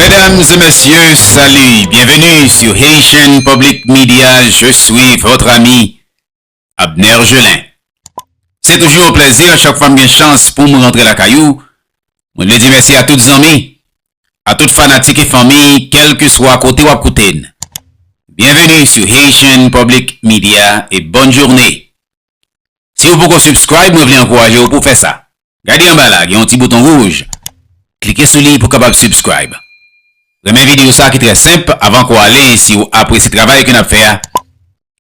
Mesdames et messieurs, salut, bienvenue sur Haitian Public Media, je suis votre ami Abner Gelin. Se toujou yon plèzi a chak fwa m gen chans pou m rantre lakay ou, mwen vle di mèsi a tout zanmi, a tout fanatik e fanmi kèlkeswa kote w ap koute n. Bienvenue sur Haitian Public Media et bonne journée. Si ou poko subscribe mwen vle ankouraje ou pou w fè sa. Gade anba la gen yon ti bouton rouj klike sou li pou kapab subscribe renmen video sa ki trè senp avan ke w ale si w apresye travay ke nap fè a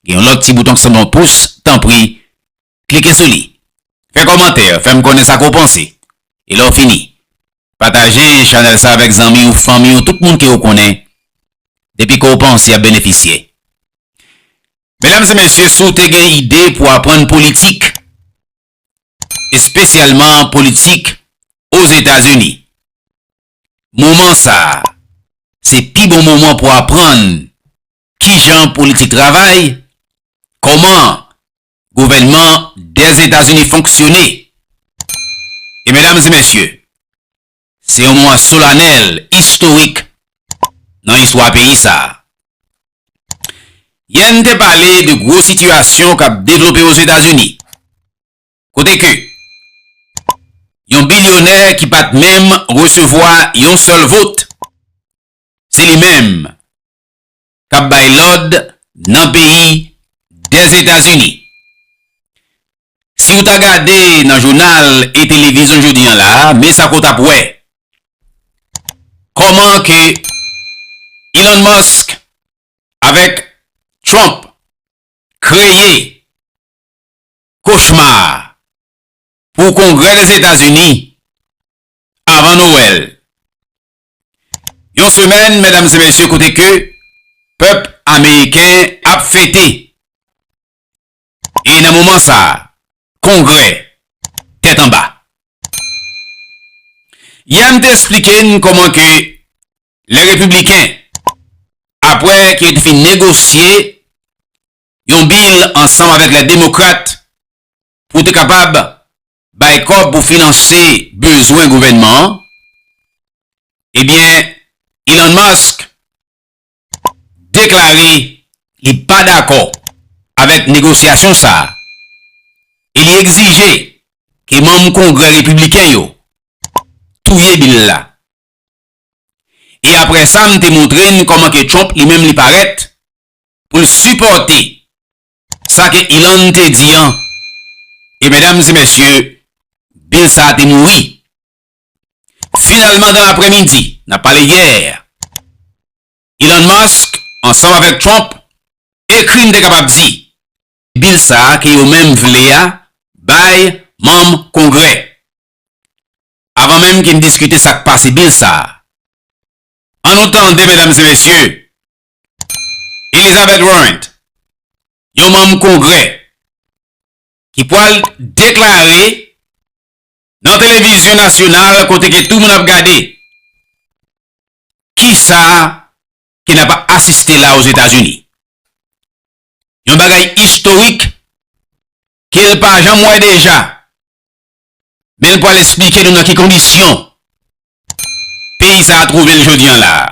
gen yon lòt ti bouton ki sanble yon pous tanpri klike sou li fè kòmantè fè m konnen sa ke w panse e lè w fini pataje chanèl sa avèk zanmi w fanmi w tout moun ke w konnen depi ke w panse yap benefisye medam e mesye si w te gen ide pou aprann politik. espesyalman politik Ozetazini. Moman sa a, se pi bon moman pou aprann kijan politik travay, kòman gouvènman Dèzetazini fonksyone. E medam e mesye, Se yon moman solanèl, istorik nan istwa peyi sa a. Yè n te pale de gwo sitiyasyon k ap devlope Ozetazini, kote ke yon bilyonè ki pa t menm resevwa yon sèl vot, se li menm kap bay lòd nan peyi Dèzetazini. Si ou ta gade nan jounal e televizyon jodi an la, men sa ke w tap wè. Kòman ke Elon Musk avèk Trump kreye kochma pou Kongrè Dèzetazini avan Nowèl. Yon semèn, medam e mesye, kote ke pèp ameriken ap fete. E nan moman sa, kongrè tèt anba. Yè m te esplike n kòman ke lè repibliken, apre ke yo te fin negosye yon bil ansanm avèk lè demokrat pou te kapab bay kòb pou finanse bezwen gouvènman an, ebyen Elon Musk deklare li pa dakò avèk negosyasyon sa a e li egzije ke manm Kongrè Repibliken yo touye bil la. E aprè sa m te montre n kòman ke Trump li menm li parèt pou l sipòte Sa ke Ilan te di an, e medam e mesye, bil sa te mouri. Finalman, dan lapremidi, n ap pale yè, Ilan Mask, ansanm avèk Trump, ekri m te kapab di, bil sa ke yo menm vle a bay manm Kongrè. Avan menm ke n diskite sa k pase bil sa, an nou tande medam e mesye, Elizabeth Warren, yon manm Kongrè ki pwal deklare nan televizyon nasyonal kote ke tou moun ap gade, kisa ke nap asiste la Ozetazini. Yon bagay istorik ke l pa janm wè deja, men l pwal esplike nou nan ki kondisyon peyi sa a twouve l jodi an la a.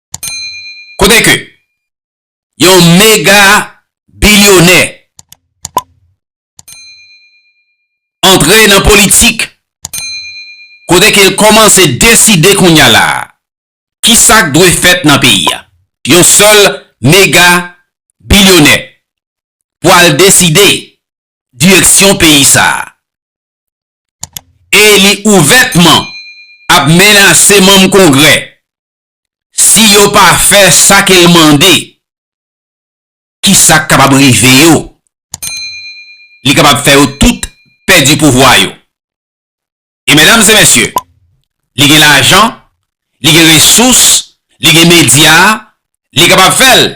Kote ke yon mega bilyonè antre nan politik, kote ke l komanse deside kounya la a, ki sa k dwe fèt nan peyi a. Yon sèl mega bilyonè pou al deside direksyon peyi sa a. E li ouvètman ap menase manm kongrè si yo pa fè sa ke l mande, ki sa k kapab rive yo? Li kapab fè yo tout pèdi pouvwa yo. E medam e mesye, li gen lajan, li gen resous, li gen medya, li kapab fè l.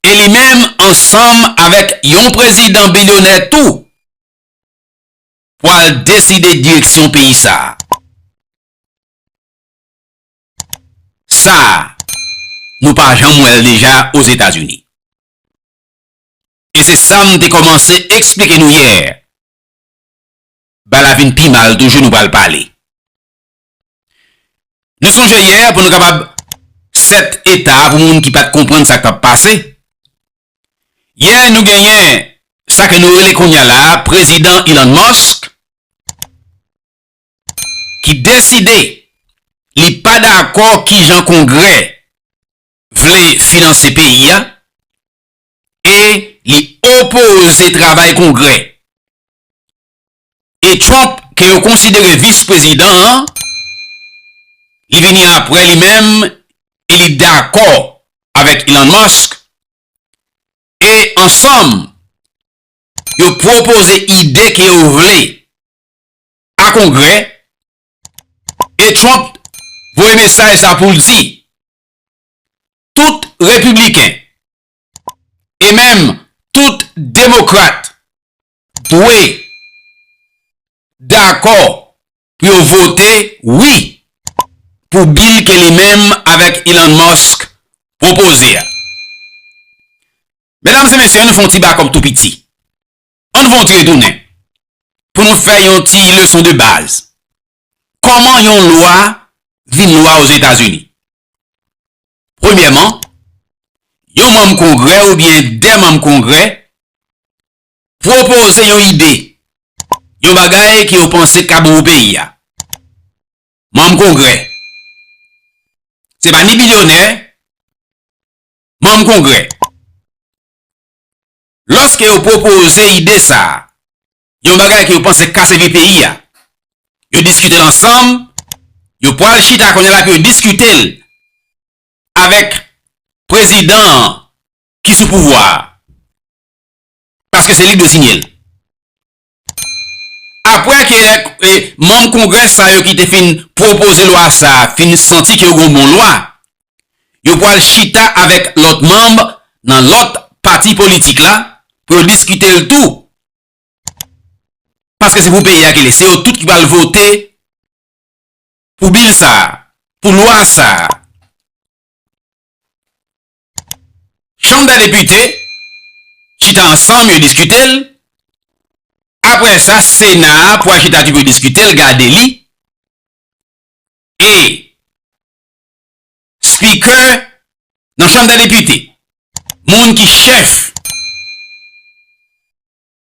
E li menm ansanm avèk yon prezidan bilyonè tou, pwal deside direksyon peyi sa a. Sa a, nou pa janm wè l deja Ozetazini. E se sa m te kòmanse eksplike nou yè, bal a vin pi mal toujou nou pral pale. Nou sonje yè pou nou kapab 7 eta pou moun ki pat konprann sa k t ap pase, yè nou genyen sa ke nou rele kounya la Prezidan Elon Musk, ki deside li pa dakò kijan Kongrè vle finanse peyi a e li opoze travay Kongrè. E Trump ke yo konsidere vis prezidan an, li vini apre li menm e li dakò avèk Elon Musk e ansanm yo pwopoze ide ke yo vle a kongrè e Trump voye mesaj sa pou l di tout repibliken e menm tout demokrat dwe dakò pou yo vote wi pou bil ke li menm avèk Elon Musk pwopoze a. Medam se mesye an nou fon ti bakòp tou piti. An n vontre tounen pou nou fè yon ti leson de baz. Kòman yon lwa vin lwa Ozetazini? Premyèman, yon manm Kongrè oubyen de manm Kongrè pwopoze yon ide, yon bagay ke yo panse ka bon pou peyi a. Manm Kongrè, se pa ni bilyonè, manm Kongrè. Lòske yo pwopoze ide sa a, yon bagay ke yo panse k ka sèvi peyi a, yo diskite l ansanm, yo pwal chita kounye la pou yo diskite l avèk prezidan an ki sou pouvwa a, paske se li k dwe siyen l. Apre ke kèk manm Kongrè sa yo ki te fin pwopoze lwa sa a fin santi ke yo gen yon bon lwa, yo pwal chita avèk lòt manm nan lòt pati politik la pou yo diskite l tou, paske se pou peyi a ke l ye. Se yo tout ki pwal vote pou bil sa a, pou lwa sa a. Chanm dè Depite chita ansanm yo diskite l, aprè sa Sena a pwal chita tou pou yo diskite l, gade li, e Speaker nan Chanm dè Depite, moun ki chèf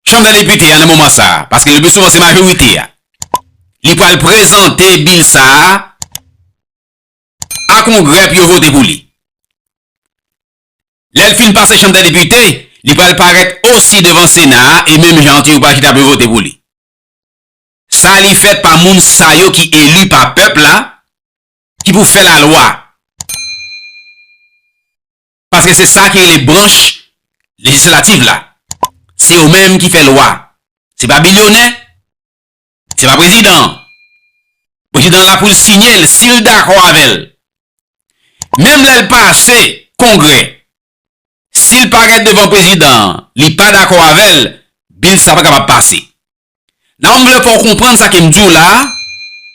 Chanm dè Depite a nan moman sa a, paske le pli souvan se majorite a, li pwal prezante Bill sa a a kongrè pou yo vote pou li. Lè l fin pase chanm dè depite, li pral parèt osi devan sena a e menm jan an tou yo pral chita pou yo vote pou li. Sa li fèt pa moun sa yo ki eli pa pèp la ki pou fè lalwa. Paske se sa ki rele branch lejislativ la. Se yo menm ki fè lwa. Se pa bilyonè. Se pa prezidan an. Prezidan an la pou l siyen l si l dakò avè l. Menm lè l pase kongrè, si l pa gen devan prezidan an, li pa dakò avè l, bil sa pa kapab pase. La m vle fè w konprann sa ke m di w la a,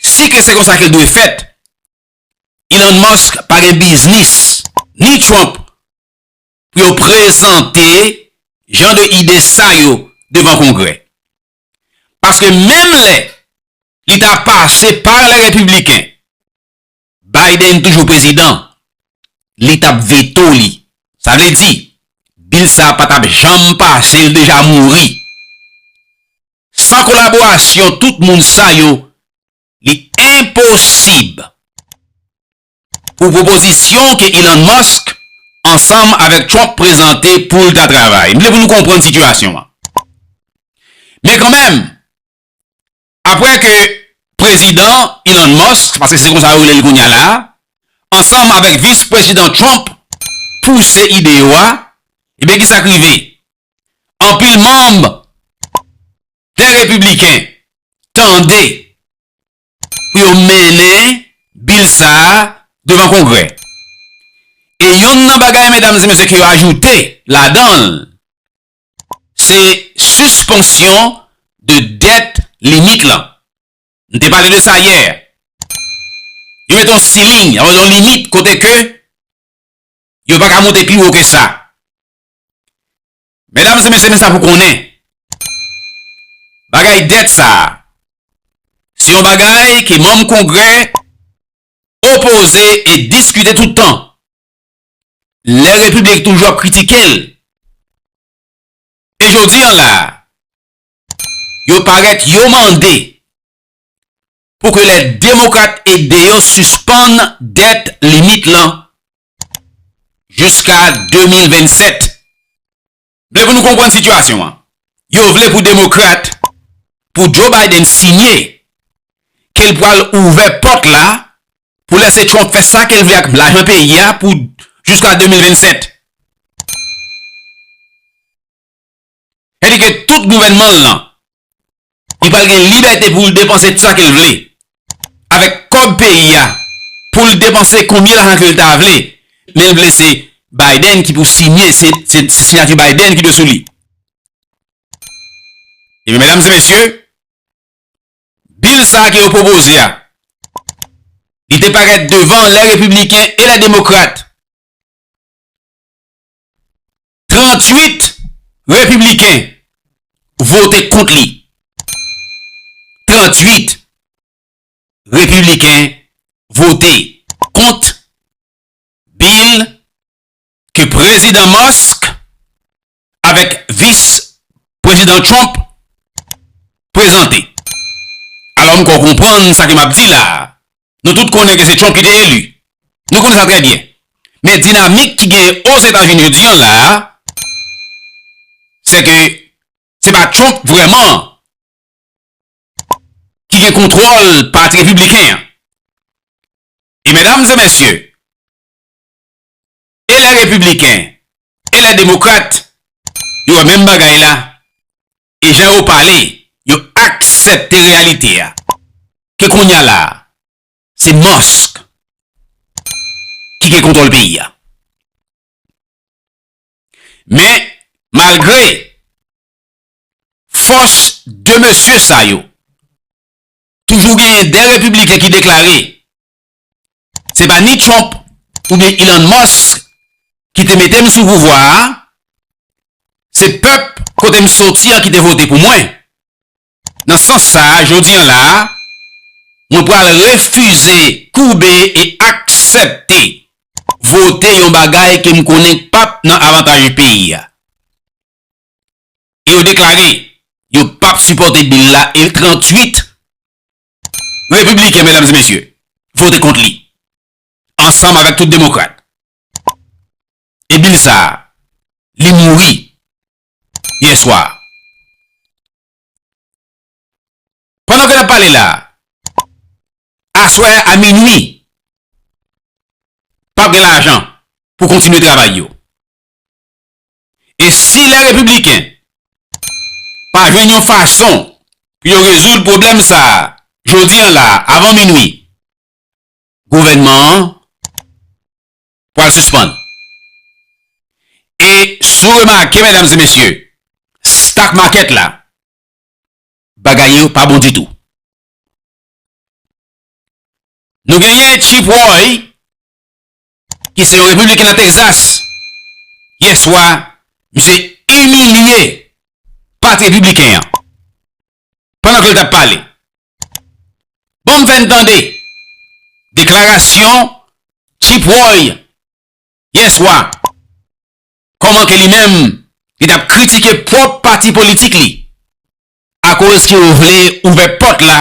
si ke se konsa ke l dwe fèt, Elon Musk pa gen biznis, ni Trump, pou yo prezante jan de ide sa yo devan kongrè. Paske menm lè li ta pase par les Républicains, Biden toujou prezidan, li t ap veto li. Sa vle di, bil sa a pa t ap janm pase, li deja mouri. San kolaborasyon tout moun sa yo, li enposib pou pwopozisyon ke Elon Musk ansanm avèk Trump prezante pou l ta travay. M vle pou nou konprann sitiyasyon an. Men kanmenm, apre ke Prezidan Elon Musk, paske se konsa yo rele l kounya la, ansanm avèk Vis Prezidan Trump pouse ide yo a, ebyen ki sa k rive? Anpil manm Dè Repibliken tande pou yo mennen bil sa a devan Kongrè. E yonn nan bagay medam e mesye ke yo ajoute ladan l, se sispansyon de dèt limit lan. M te pale de sa yè. Yo mete yon siling, yon limit kote ke yo pa ka monte pi wo ke sa. Medam se mesye men sa pou konnen. Bagay dèt sa. Se yon bagay ke manm kongrè opoze e diskite tout tan. Lè repiblik toujou ap kritike l. E jodi an la. Yo parèt yo mande. Pou ke lè demokrat ede yo sispann dèt limit lan. jiska 2027. Vle pou nou konprann sitiyasyon an. Yo vle pou demokrat, pou Joe Biden siyen ke l pral ouvè pòt la pou lese Trump fè sa ke l vle ak lajan peyi a pou jiska 2027. Sa di ke tout gouvènman l lan, li pral gen libète pou l depanse tout sa ke l vle. Avèk kòb peyi a, pou l depanse konbyen lajan ke l ta vle. Men l vle se Biden ki pou siyen, se siyati Biden ki dwe sou li. Ebyen, medam e mesye, bil sa a ke yo pwopoze a, li te parèt devan lè repibliken e lè demokrat. 38 Repibliken vote kont li. 38 Repibliken vote kont bil ke Prezidan Musk avèk Vis Prezidan Trump prezante. Alò m kwè w konprann sa ke m ap di la a. Nou tout konnen ke se Trump ki te eli. Nou konnen sa trè byen. Men dinamik ki genyen Ozetazini jodi an la a, se ke se pa Trump vrèman ki gen kontwòl pati repibliken an. E medam e mesye, e lè repibliken, e lè demokrat, yo wè menm bagay la. e jan yo pale, yo aksepte reyalite a, ke kounya la a, se Musk ki gen kontwòl peyi a. Men, malgre fòs de mesye sa yo, toujou genyen 2 repibliken ki deklare Se pa ni Trump oubyen Elon Musk ki te mete m sou pouvwa a, se pèp kote m soti an ki te vote pou mwen. Nan sans sa, jodi an la, mwen pral refize koube e aksepte vote yon bagay ke m konnen k pap nan avantaj peyi a. E yo deklare yo pap sipòte bil la e 38 Repibliken, medam e mesye, vote kont li, ansanm avèk tout demokrat. E bil sa a, li mouri yè swa. Pandan ke n ap pale la, aswè a minui, pap gen lajan pou kontinye travay yo. E si lè Repibliken pa jwenn yon fason pou yo rezoud pwoblèm sa a jodi an la a avan minui, gouvènman an pral sispann. E si w remake medam e mesye, stock market la, bagay yo pa bon ditou. Nou genyen Chip Roy ki se yon Repibliken nan Texas, yè swa, misye imilye Pati Repibliken an pandan ke l t ap pale. Bon m fè n tande deklarasyon Chip Roy yè swa, kòman ke li menm li t ap kritike pwòp pati politik li akoz ke yo vle ouvè pòt la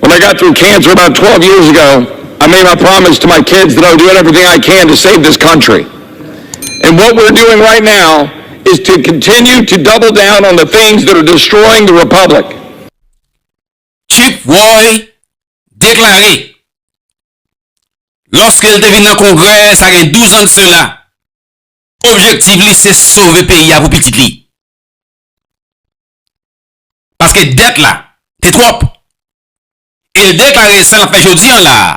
When I got through cancer about twelve years ago, I made my promise to my kids that I would do everything I can to save this country. And what we're doing right now is to continue to double down on the things that are destroying the republic. Chick Roy deklare lòske l te vin nan Kongrè sa gen 12 an de sela, objektiv li se sove peyi a pou pitit li. paske dèt la te twòp. E l deklare sa l ap fè jodi an la a,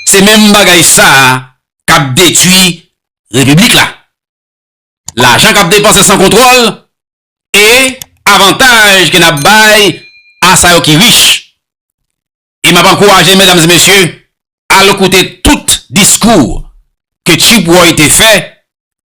se menm bagay sa a k ap detui Repiblik la. Lajan k ap depanse san kontwòl e avantaj ke n ap bay a sa yo ki rich. E m ap ankouraje medam e mesye al koute tout diskou ke Tchibwoy te fè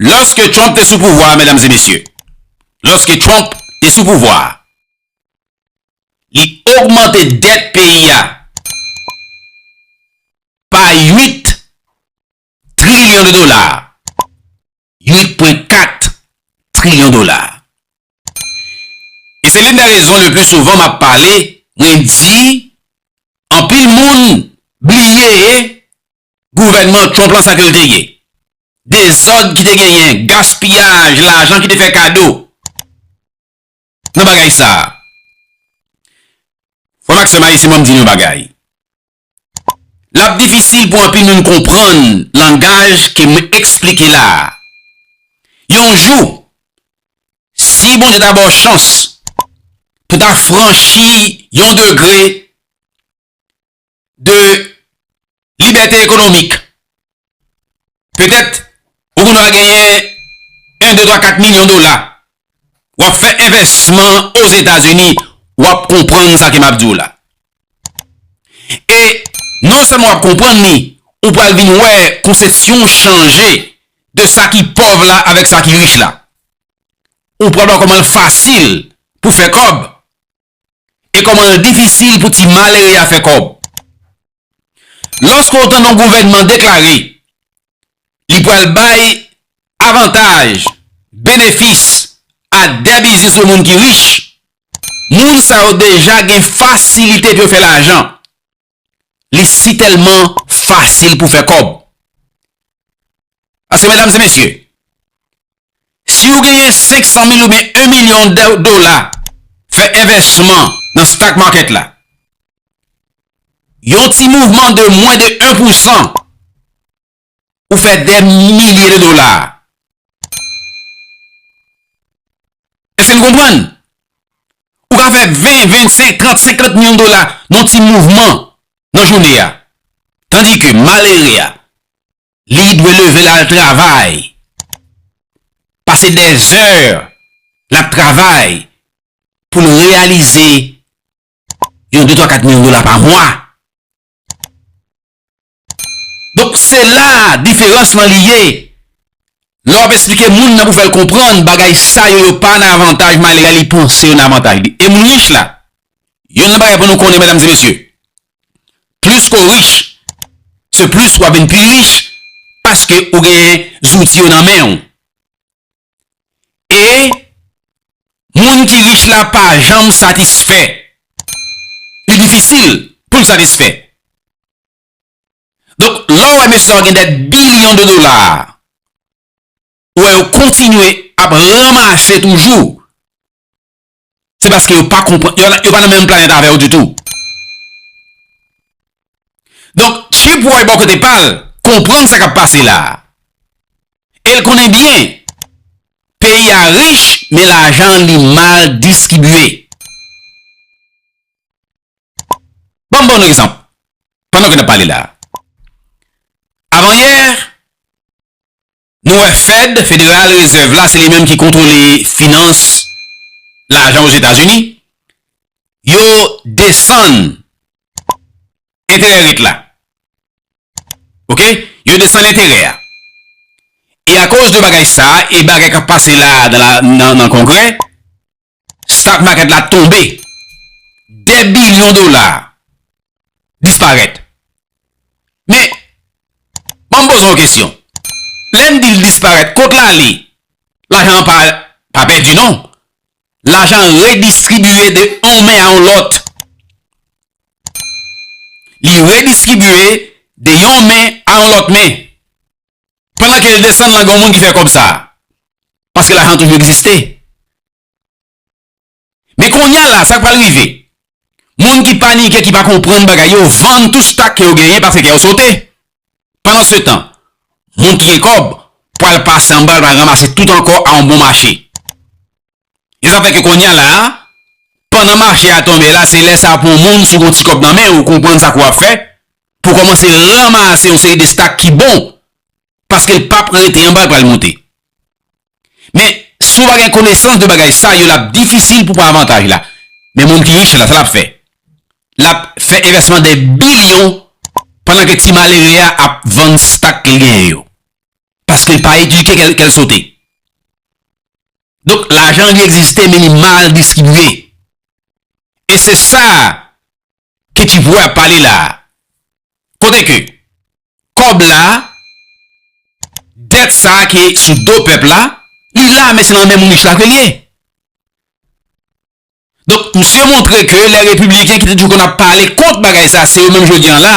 Lòske Trump te sou pouvwa a, medam e mesye, lòske Trump te sou pouvwa a, li ogmante dèt peyi a pa 8 trilyon de dola, 8.4 trilyon dola. E se lin de rezon le pli souvan map pale, mwen di, anpil moun bliye gouvènman Trump lan sa ke l te ye. Dezòd ki te genyen, gaspiyaj lajan ki te fè kado nan bagay sa a. Frè m ak sè m ayisyen ban m di nou yon bagay. L ap difisil pou anpil moun konprann langaj ke m esplike la a. Yon jou, si Bondye ta ba w chans pou ta franchi yon degre de libète ekonomik. Petèt ou konn ap genyen 1, 2, 3, 4 milyon dola, w ap fè envèsman Ozetazini, w ap konprann sa ke m ap di w la. E non sèlman w ap konprann li, ou pral vin wè konsepsyon w chanje de sa ki pòv la avèk sa ki rich la. Ou pral wè kòman l fasil pou fè kòb e kòman l difisil pou ti malere a fè kòb. Lòske w tande yon gouvènman deklare li pral bay avantaj, benefis a dè biznis yo moun ki rich, moun sa yo deja gen fasilite pou yo fè lajan. Li si tèlman fasil pou fè kòb. Paske medam se mesye, si ou genyen 500 mil oubyen 1 milyon dola fè envèsman nan stock market la, yon ti mouvman de mwen de 1 pousan Ou fè dè milye de dola. Eske nou konprann? Ou ka fè 20, 25, 30, 50 milyon de dola nan ti mouvman nan jounè ya. Tandi ke malere ya, li dwe leve la al travay. Pase dè zè la al travay pou l reyalize yon 2, 3, 4 milyon de dola pa mwa. Donk se la diferans lan li ye. Lè wap esplike moun nan pou fèl konprann bagay sa yo yo pa nan avantaj Mayle a li panse yo nan avantaj li. E moun rich la, yonn nan bagay pou nou konnen medam e mesye, plis ke w rich se plis wap vin pi rich paske ou gen zouti yo nan men w. E moun ki rich la pa janm satisfè. Li difisil poul satisfè. Donk, lè w wè mesye sa yo gen dè bilyon de dola, ou wè yo kontinye ap ranmase toujou, se paske yo pa konprann, yo pa nan menm planèt avè w ditou. Donk, Chipwoy bò kote pa l, konprann sa k ap pase la. E l konnen byen, peyi a rich, men lajan li mal diskibye. Ban m ba w yon egzanp pandan ke n ap pale la a. Avanyè, nou wè Fed, Federal Reserve la, se li menm ki kontwole finans lajan Ozetazini, yo desann enterè rate la. Ok? Yo desann enterè a. E akoz de bagay sa a e bagay k ap pase la a nan Kongrè, Stock market la tonbe. Dè bilyon dola disparèt. Men, banm poze yon kesyon. Lè n di l disparèt, kot l ale? Lajan an pa pèdi non. Lajan an redistribye de yon men a yon lòt. Li redistribye de yon men a yon lòt men. Pandan ke l desann lan gen yon moun ki fè kòb sa a. Paske lajan toujou egziste. Men konnya la, sa k pral rive? Moun ki panike, ki pa konprann bagay yo, vann tout stak ke yo genyen paske kè yo sote. Pandan se tan, moun ki gen kòb pral pase anba l, pral ranmase tout ankò a yon bon mache. E sa fè ke konnya la a, pandan mache a tonbe la, se lè sa a pou yon moun, si w gen yon ti kòb nan men ou, konprann sa ke w ap fè, pou w kòmanse ranmase yon seri de stak ki bon, paske l pa p rete anba, l pral monte. Men, si w pa gen konesans de bagay sa yo, l ap difisil pou w pran avantaj la. Men moun ki rich la, sa l ap fè? L ap fè envèsman de bilyon, pandan ke ti malere a ap vann stak li genyen yo. Paskel pa edike kel sote. Donk lajan li egziste men li mal distribye. E se sa ke ti voye ap pale la. Kote ke kob la det sa ki sou do pep la li la men se nan men mounich la ke li ye. Donk misye montre ke le repibliken ki te toujou konn ap pale kont bagay sa se yo menm jodi an la.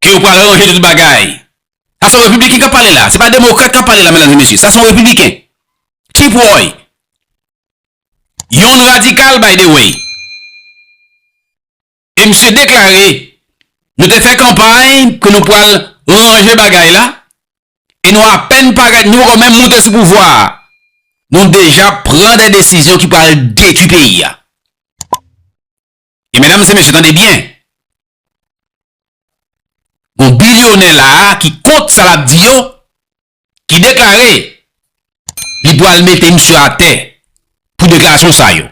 ke yo pral ranje tout bagay. Sa son repibliken kap pale la, se pa demokrat kap pale la medam e mesye, sa son repibliken. Tip woy. Yon radikal by the way. E misye deklare, nou te fè kanpay ke nou pral ranje bagay la, e nou apen pa gen, nou poko menm moute sou pouvwa a, nou deja pran de desizyon ki pral detwi peyi a. E medam se mesye tande byen. Gon bilyonè la a ki kont sa lap di yo, ki deklare li pwal mete misye a tè pou deklarasyon sa yo.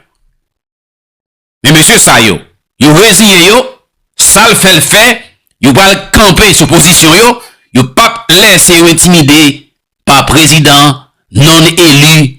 Men mesye sa yo, yo reziyen yo, sal fèl fè, yo pwal kanpe sou pozisyon yo, yo pap lèse yo entimide pa prezidan non eli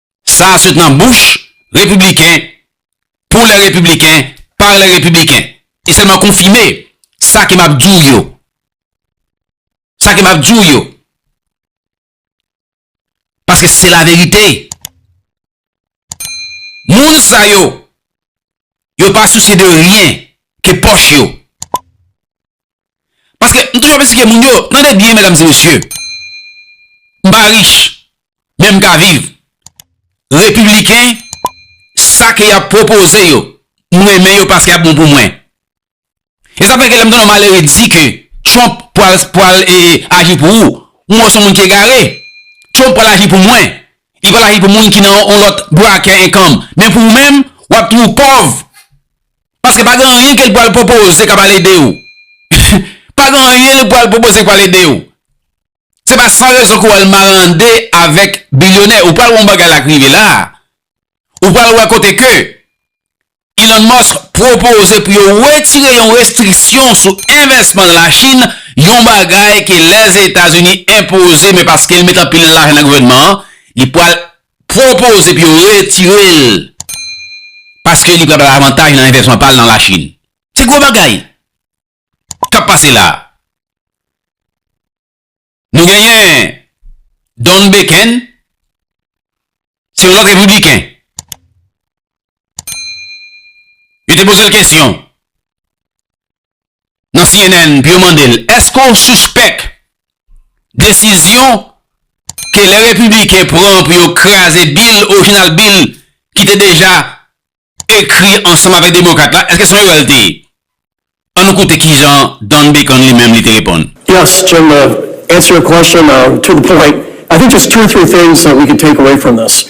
Sa a sot nan bouch Repibliken, pou lè Repibliken, pa lè Repibliken. E sèlman konfime sa ke m ap di w yo. Sa ke m ap di w yo. Paske se la verite. Moun sa yo, yo pa sousye de ryen ke pòch yo. Paske m toujou ap esplike moun yo, tande byen medam e mesye, m pa rich, men m ka viv. Repibliken, sa ke y ap pwopoze yo, m renmen yo paske y ap bon pou mwen. E sa fè ke lè m tande yon malere di ke Trump pwal, pwal e aji pou ou, m wè w se yon moun ki egare. Trump pwal aji pou mwen. Li pwal aji pou moun ki nan yon lòt brakè enkanm. Men pou ou menm, w ap toujou pòv. Paske pa gen anyen ke l pral pwopoze k ap al ede ou. Pa gen anyen li pral pwopoze k pral ede ou. Se pa san rezon ke w al marande avèk bilyonè. Ou pral wè yon bagay la k rive la a. Ou pral wè kote ke Elon Musk pwopoze pou yo wetire yon restriksyon sou envèsman nan Lachin, yon bagay ke Lèzetazini enpoze men paske l met anpil lajan nan gouvènman an, li pral Pwopose epi yo retire l paske li pral bay avantaj nan envèsman pa l nan Lachin. Se gwo bagay k ap pase la a. Nou genyen Don Beken, se yon lòt repibliken. Yo te poze l kesyon. nan cnn pou yo mande l èske w sispèk desizyon ke lè repibliken pran pou yo kraze bil, orijinal bil ki te deja ekri ansanm avèk demokrat la, èske se yon erè l te ye? An nou koute kijan Don Bacon li menm li te reponn. Yes, Jim, to answer your question to the point, I think just two or three things that we can take away from this.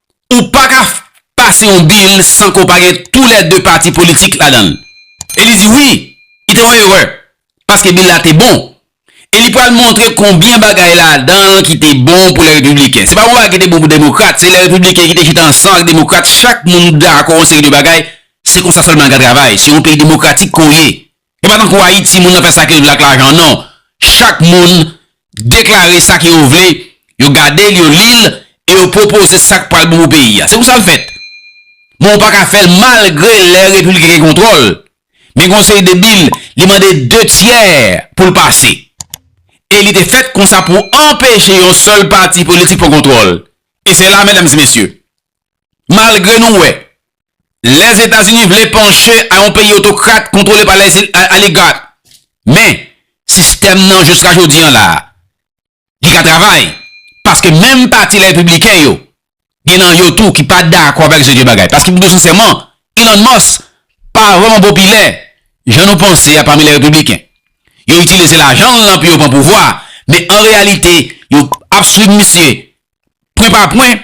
ou pa ka pase yon bil san ke w pa gen tou lè 2 pati politik ladan l. E li di wi, li te yon erè, paske bil la te bon. E li pral montre konbyen bagay ladan l ki te bon pou lè repibliken. Se pa yon bagay ki te bon pou demokrat, se lè repibliken ki te chita ansan ak demokrat, chak moun dakò yon seri de bagay, se konsa sèlman l ka travay. Se yon peyi demokratik ke w ye, E pa tankou Ayiti moun nan fè sa ke l vle ak lajan an non. Chak moun deklare sa ke yo vle, yo gade l, yo li l e yo pwopoze sa k pral bon pou peyi a. Se konsa l fèt. Men ou pa ka fè l malgre lè Repiblik gen kontwòl. Men konseye de bil, li mande 2 tyè pou l pase. E li te fèt konsa pou anpeche yon sèl pati politik pran kontwòl. E se la, medam e mesye, malgre nou wè Lèzetazini vle panche a yon peyi otokrat kontwole pa oligat, men sistèm nan jiska jodi an la a, li ka travay paske menm pati Repibliken yo gen nan yo tou ki pa dakò avèk jan yo bagay. Paske pou di w sensèman, Elon Musk pa vrèman popilè jan nou panse a pami Repibliken. Yo itilize lajan l lan pou yo pran pouvwa, men an reyalite yo ap swiv misye pwen pa pwen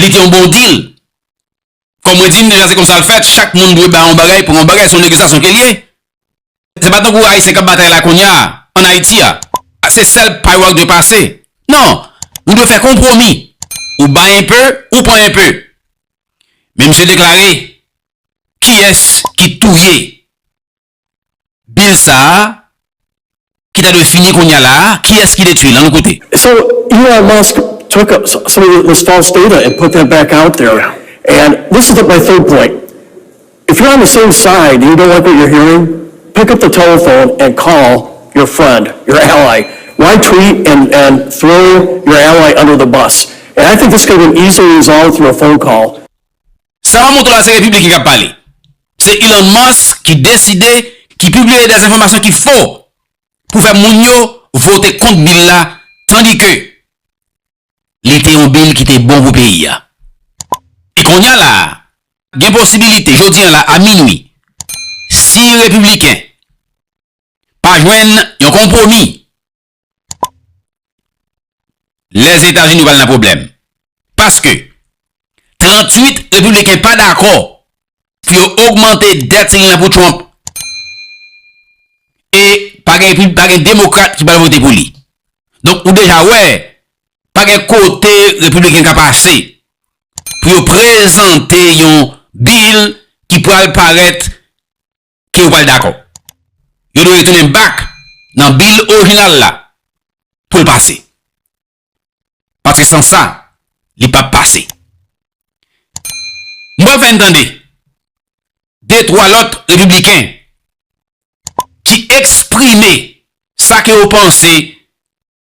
Li te yon bon deal. Kòm mwen di n deja se konsa l fèt, chak moun dwe bay yon bagay pou yon bagay, se yon negosyasyon ke l ye. Se pa tankou Ayisyen k ap batay la kounya a, an Ayiti a, se sèl pay ou a k dwe pase. Non, ou dwe fè konpwomi. Ou bay enpe, ou pran enpe. Men misye deklare, Kiyès ki touye? Bill sa a ki ta dwe fini kounye a la a, kiyès ki detwi l? An nou koute. So Elon Musk took some of this false data and put that back out there and this is my third point if you're on the same side and you don't like what you're hearing pick up the telephone and call your friend your ally why tweet and and throw your ally under the bus and I think this could have been easily resolved through a phone call. Sa pa montre la se repiblik ki kap pale. Se Elon Musk ki deside, ki pibliye des enfòmasyon ki fo pou fè moun yo vote kont bil la tandi ke li te yon bil ki te bon pou peyi a. E konnya la a, gen posibilite jodi an la a minwi, si repibliken pa jwenn yon konpwomi Lèzetazini pral nan pwoblèm. Paske, 38 Repibliken pa dakò pou yo ogmante dèt civil la pou Trump. E pa gen Repib, pa gen Demokrat ki pral vote pou li. Donk ou deja wè, pa gen kote Repibliken ka pase pou yo prezante yon bill ki pral parèt ke yo pral dakò. Yo dwe retounen back nan bill orijinal la pou l pase. Paske san sa, li pap pase. M pral fè n tande de twa lòt repibliken ki eksprime sa ke yo panse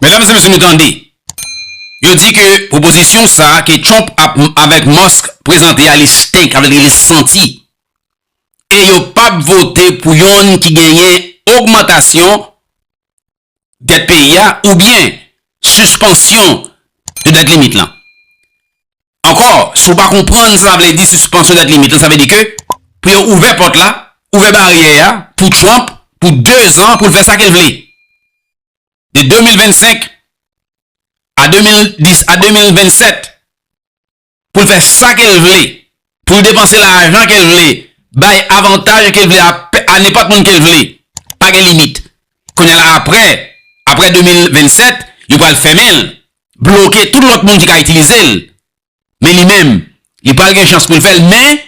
Medam se mesye nou tande yo di ke pwopozisyon sa ke Trump avek Musk prezante a li stink sa vle di li santi e yo pap vote pou yonn ki genyen ogmantasyon dèt peyi a oubyen sispansyon de dèt limit lan. Ankò si w pa konprann sa vle di sispansyon dèt limit lan sa vle di ke pou yo ouvè pòt la, ouvè baryè a pou Trump pou 2 zan pou l fè sa ke l vle. de 2025 a 2010 a 2027 pou l fè sa ke l vle, pou l depanse lajan ke l vle, bay avantaj ke l vle a nenpòt moun ke l vle, pa gen limit. Kounye la aprè, aprè 2027, yo pral fèmen l, bloke tout lòt moun ki ka itilize l. Men li menm, li pral gen chans pou l fè l men,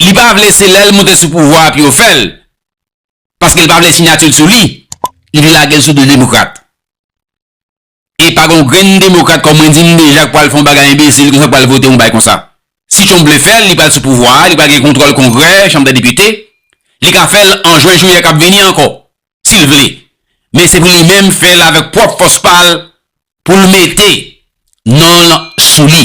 li pa vle se lè l moute sou pouvwa a pou yo fè l. paske li pa vle sinatil sou li, li vle lagel sou do demokrat. E pa gon grenn demokrat kòm mwen dim deja k pwal fon bagay enbesil konsa k pwal vote yon bagay konsa. Si Trump vle fèl, li pwal sou pouvwa a, li pwal gen kontwòl kongrè, chanm dè depite, li ka fèl an jwen jouyè kap vini ankò, sil vle. Men se pou li menm fèl avèk pwòp fòs pal poul mete nonl sou li.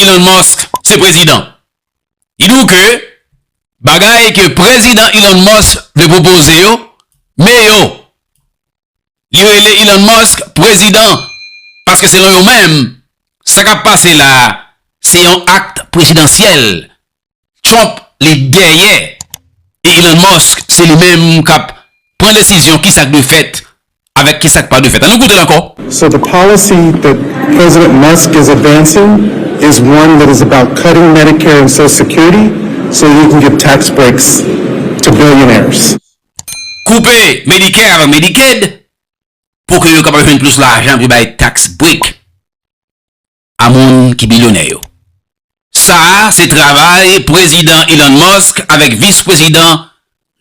Elon Musk se prezidan. Li di w ke bagay ke prezidan Elon Musk vle pwopoze yo, me yo. Li rele Elon Musk prezidan paske selon yo menm, sa k ap pase la a se yon akt prezidansyèl Trump li dèyè e Elon Musk se li menm kap pran desizyon kisa k dwe fèt avèk kisa k pa dwe fèt. An nou koute l ankò. So the policy that President Musk is advancing is one that is about cutting Medicare and Social Security so he can give tax breaks to billionaires. Koupe Medicare avèk Medicaid pou ke yo kapab jwenn plis lajan pou bay tax break. a moun ki bilyonè yo. Sa a se travay Prezidan Elon Musk avèk Vis Prezidan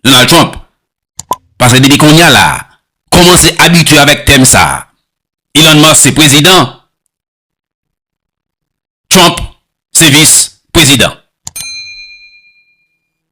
Donald Trump. Pase depi konnya la, kòmanse abitye avèk tèm sa a. Elon Musk se Prezidan, Trump se Vis Prezidan.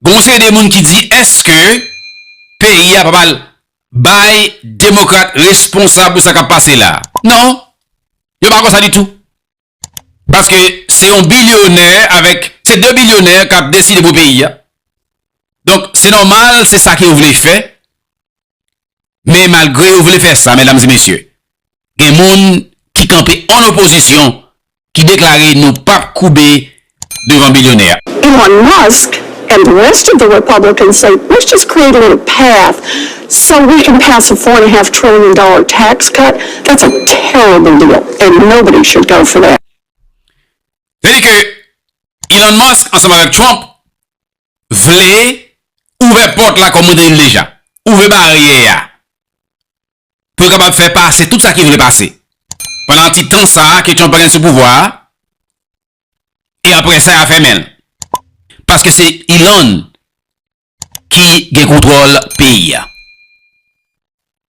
Gon yon seri de moun ki di eske peyi a pa pral bay demokrat responsab pou sa kap pase la. Non, yo pa konsa ditou. Paske se yon bilyonè avèk, se 2 bilyonè kap deside pou peyi a. Donk se nòmal se sa ke yo vle fè. Men malgre yo vle fè sa, medam e mesye, gen moun ki kanpe an opozisyon ki deklare nou pap koube devan bilyonè. Elon Musk and the rest of the Republicans say let's just create a little path so we can pass a four and a half trillion dollar tax cut, that's a terrible deal and nobody should go for that. Sèdi ke Elon Musk ansanm avèk Trump vle ouvè pòt la kòm mwen te di l deja, ouvè baryè a pou yo kapab fè pase tout sa ki vle pase pandan ti tan sa a ke Trump pral gen sou pouvwa a e aprè sa ya fèmen l paske se Ilann ki gen kontwòl peyi a.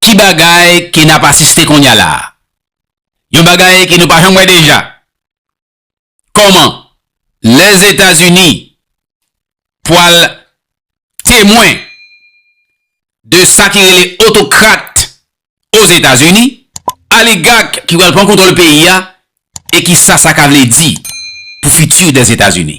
Ki bagay ke n ap asiste kounye a la a? Yon bagay ke nou pa janm wè deja. Kòman Lèzetazini pwal temwen de sa ki rele otokrat Ozetazini, aligak ki pral pran kontwòl peyi a, e kisa sa ka vle di pou fiti Dèzetazini?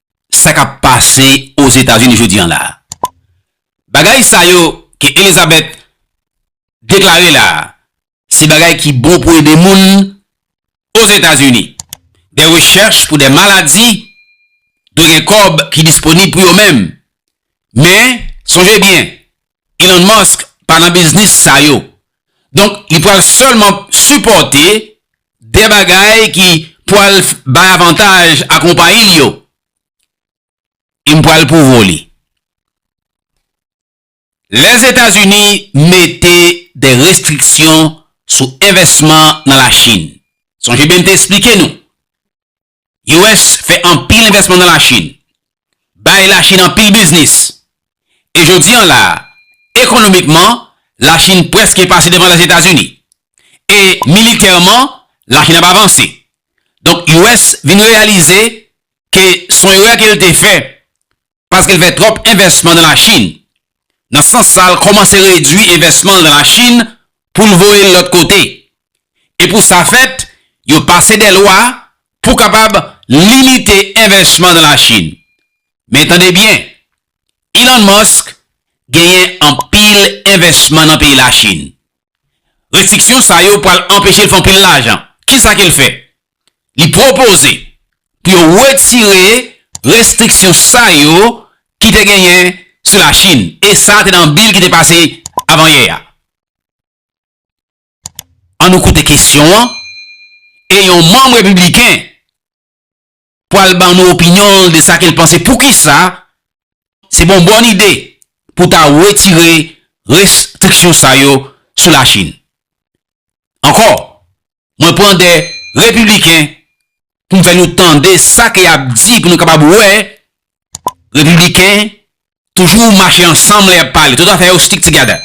sa k ap pase Ozetazini jodi an la a. Bagay sa yo ke Elizabeth deklare la a, se bagay ki bon pou ede moun Ozetazini. Dè rechèch pou dè maladi dwe gen kòb ki disponib pou yo menm. Men, sonje byen, Elon Musk pa nan biznis sa yo. Donk li pwal sèlman sipòte de bagay ki pwal bay avantaj a konpayi li yo. E m pwal pwouvo li. Lèzetazini mete de restriksyon sou envèsman nan Lachin. Sonje byen m te esplike nou. US fè anpil envèsman nan Lachin, bay Lachin anpil biznis, e jodi an la a, ekonomikman, Lachin prèske pase devan Lèzetazini, e militèman, Lachin ap avanse. Donk US vin reyalize ke son erè ke l te fè paske l fè twòp envèsman nan Lachin. Nan sans sa l kòmanse redui envèsman l nan Lachin pou l voye l lòt kote. E pou sa fèt, yo pase dè lwa pou kapab limite envèsman nan Lachin. Men tande byen, Elon Musk genyen anpil envèsman nan peyi Lachin. Restriksyon sa yo pral anpeche l fè anpil lajan. Kisa ke l fè? Li pwopoze pou yo wetire restriksyon sa yo ki te genyen sou Lachin e sa te nan bil ki te pase avanyè a. An nou koute kesyon an e yon manm repibliken pwal ban nou opinyon l de sa ke l panse poukisa se bon bòn ide pou ta wetire restriksyon sa yo sou Lachin. Ankò, Mwen pran 2 Repibliken pou m fè nou tande sa ke y ap di pou nou kapab wè Repibliken toujou mache ansanm lè y ap pale. Tout afè yo stick together.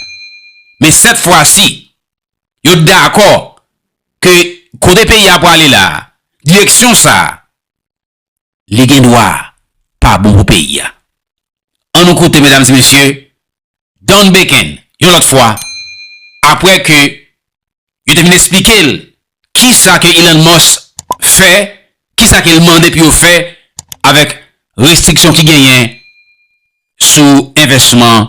Men sèt fwa si, yo dakò ke kote peyi a prale la, direksyon sa, li gen dwa pa bon pou peyi a. An nou koute medam e mesye Don Beken yon lòt fwa apre ke yo te fin esplike l ki sa ke Elon Musk fè, ki sa ke l mande pou yo fè avèk restriksyon ki genyen sou envèsman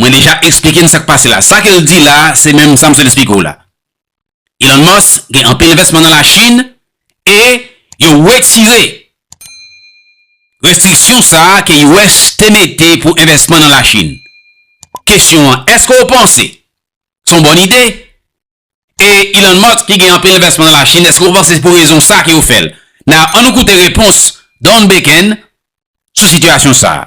Mwen deja esplike n sa k pase la. Sa ke l di la, se menm sa m sot esplike w la. Elon Musk gen anpil envèsman nan Lachin e yo wetire restriksyon sa a ke US te mete pou envèsman nan Lachin. Kesyon an, èske w panse se yon bòn ide? E Elon Musk ki gen anpil envèsman nan Lachin, èske w panse se pou rezon sa a ke yo fè l? Now, an nou koute repons Don Bacon sou sitiyasyon sa a.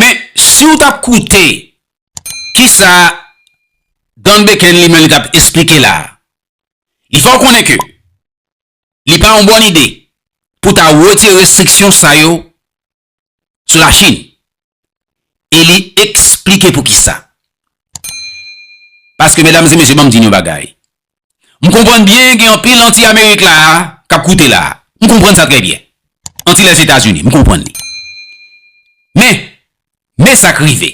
Men, si w t ap koute ki sa Don Beken li menm li t ap esplike la a, li fè w konnen ke li pa yon bòn ide pou w ta wetire restriksyon sa yo sou Lachin. E li esplike pou ki sa. Paske medam e mesye ban m di n yon bagay, M konprann byen gen anpil anti amerik la a k ap koute la a. M konprann sa trè byen. Anti Lèzetazini, m konprann li. Men, men sa k rive.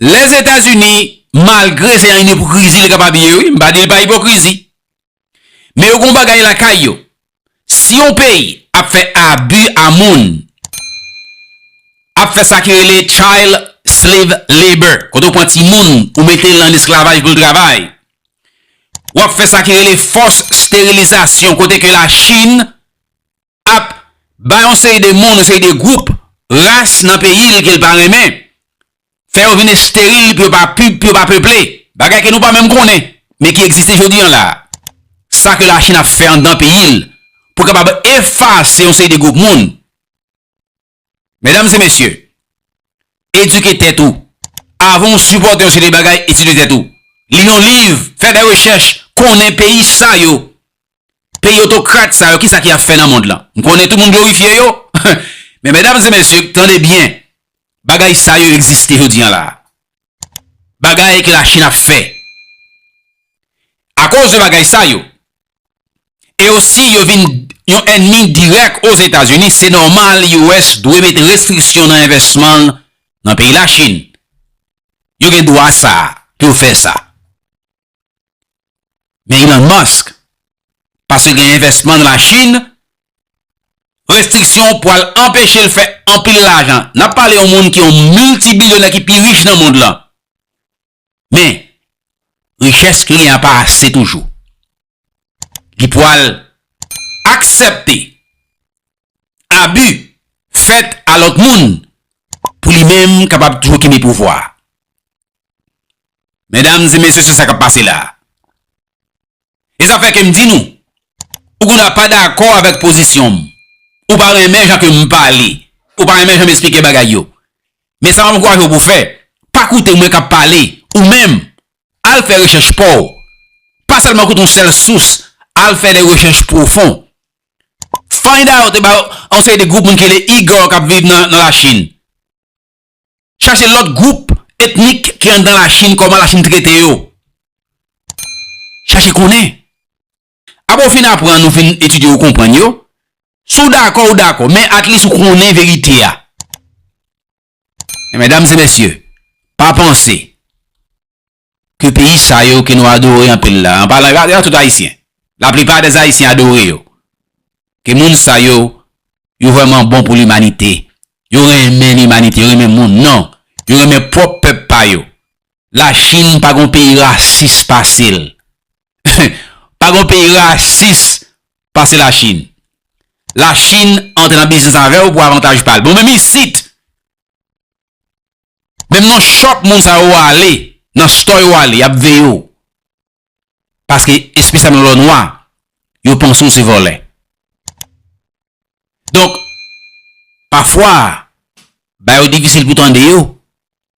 Lèzetazini, malgre se yon ipokrizi li kapab ye wi, m pa di li pa ipokrizi. Men yo gen yon bagay lakay yo, Si yon peyi ap fè abu a moun, ap fè sa ki rele child slave labor, kote ou pran ti moun ou mete l an esklavaj pou l travay, ou ap fè sa ki rele force sterilisation, kote ke la chine ap bay yon seri de moun, yon seri de group, ras nan peyi l ke l pa renmen, fè yo vin esteril pou yo pa pu pou yo pa peple, bagay ke nou pa menm konnen, men ki egziste jodi an la a. Sa ke Lachin ap fè anndan peyi l pou kapab efase yon seri de gwoup moun. Medam e mesye, edike tèt ou avan ou sipòte yon seri de bagay, etidye tèt ou, li yon liv, fè de rechèch, konnen peyi sa yo Peyi otokrat sa yo kisa ki ap fè nan mond lan? M konnen tou moun glorifye yo, men medam e mesye tande byen, bagay sa yo egziste jodi an la. Bagay ke lachin ap fè. Akoz de bagay sa yo, e osi yo vin yon enmi dirèk ozetazini, se nòmal US dwe mete restriksyon nan envèsman l nan peyi lachin. Yo gen dwa sa pou yo fè sa. Men Elon Musk, paske gen envèsman nan la Chine, restriksyon pwal anpeche l fè anpil lajan. N ap pale yon moun ki yon miltibilyonè ki pi rich nan mond lan. Men, richès li gen an pa ase toujou. li pwal aksèpte abi fèt a lòt moun pou li menm kapab toujou kenbe pouvwa. Medam e mesye se sa kap pase la. E sa fè ke m di nou, ou gen dwa pa dakò avèk pozisyon m, ou pa renmen jan ke m pale, ou pa renmen jan m esplike bagay yo, men sa m ankouraje w pou fè, pa koute mwen kap pale, ou menm Al fè rechèch pa w. Pa sèlman koute yon sèl sous, al fè de rechèch pwofon. Find out about yon seri de gwoup moun ki rele Igor k ap viv nan Lachin. Chache lòt gwoup etnik ki anndan Lachin, kòman Lachin trete yo. Chache konnen. Apre w fin aprann, ou fin etidye, ou konprann yo, si w dakò, ou dakò, men atlis ou konnen verite a. Medam e mesye, pa panse ke peyi sa yo ke nou adore anpil la, an palan, gade a tout ayisyen, la plipa des ayisyen adore yo, ke moun sa yo, yo vreman bon pou limanite, yo renmen limanite, yo renmen moun, non, yo renmen pwop pep pa yo. La chine pa gon peyi rasis pase l. Pa gon peyi rasis pase la chine. La chine antre nan biznis avew pou avantaj pal. Bon menm isit. Menm nan shop moun sa yo wale. Nan store yo wale yap veye w. Paske espesyalman lè w nwa. Yo panse w se vole. Donk. Pafwa. Bayo difisil pou tande yo.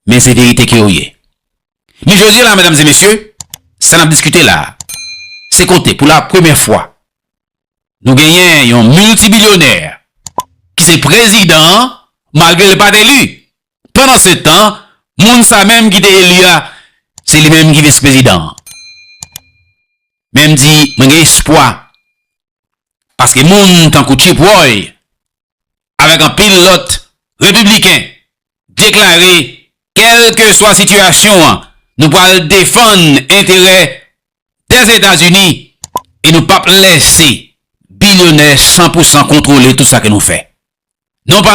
men se verite ke yo ye. Men jodi la medam e mesye, sa nap diskite la, se kote pou la premye fwa nou genyen yon miltibilyonè ki se prezidan malgre li pat eli. Pandan se tan, moun sa menm ki te eli a, se li menm ki vis prezidan. Men m di mwen gen espwa, paske moun tankou Chip Roy, avèk anpil lòt Repibliken, deklare kèlkeswa sitiyasyon an, nou pral defann enterè Dèzetazini e nou pap lèse bilyonè san pou san kontwole tout sa ke nou fè. Non pa.